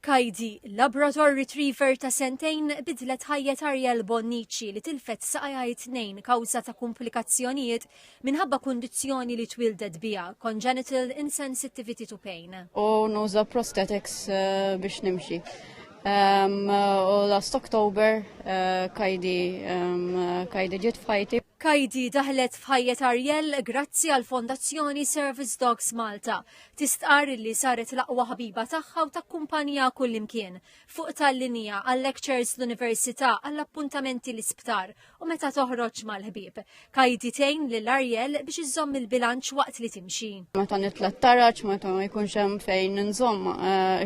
Kajdi, Labrador Retriever ta' sentejn bidlet ħajjet Ariel Bonnici li tilfet saqajha it-Tnejn kawża ta' kumplikazzjonijiet minħabba kundizzjoni li twieldet biha, congenital insensitivity to pain. U nuża prosthetics biex nimxi. U last October Kajdi Kajdi ġiet f'ħajti. Kajdi daħlet f'ħajjet Ariel grazzi għall-Fondazzjoni Service Dogs Malta Tistqarr illi saret l-aqwa ħabiba tagħha u takkumpaniha kullimkien, fuq tal-linja, għal-lectures l-università, għall-appuntamenti l-isptar u meta toħroġ mal-ħbieb. Kaidi tgħin lil Ariel biex iżżomm il-bilanċ waqt li timxi. Meta nitla' t-taraġ, meta ma jkunx hemm fejn nżomm,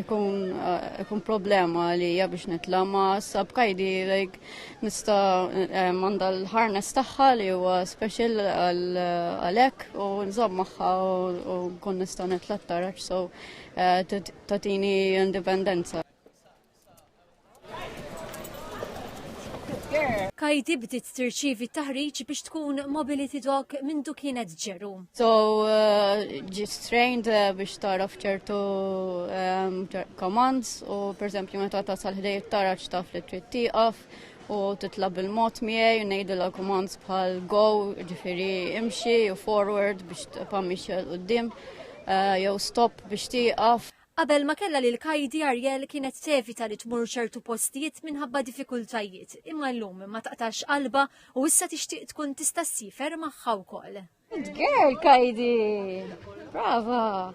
ikun problema għalija biex nitla' ma sab Kaidi like Nista għandha l-harness tagħha li huwa special għalhekk u nżomm magħha u nkun nista' nitla' taraġ so eh, tatini indipendenza. Kajti bdiet tirċievi taħriġ biex tkun mobility dog minn kienet ġerum. So, uh, ġit trained uh, biex taraf ċertu um, commands u per esempio meta tasal ħdejt taraċ taf li trid tieqaf u titlab il-mod miegħi u ngħidilha commands bħal go, ġifieri imxi u forward biex tpammix qudiem uh, jew stop biex tieqaf. Qabel ma kella li l-kajdi Ariel kienet tevita li tmur ċertu postijiet minħabba diffikultajiet, imma llum ma taqtax qalba u issa tixtieq tkun tista' sifer magħha wkoll. Good girl, Kajdi! Brava!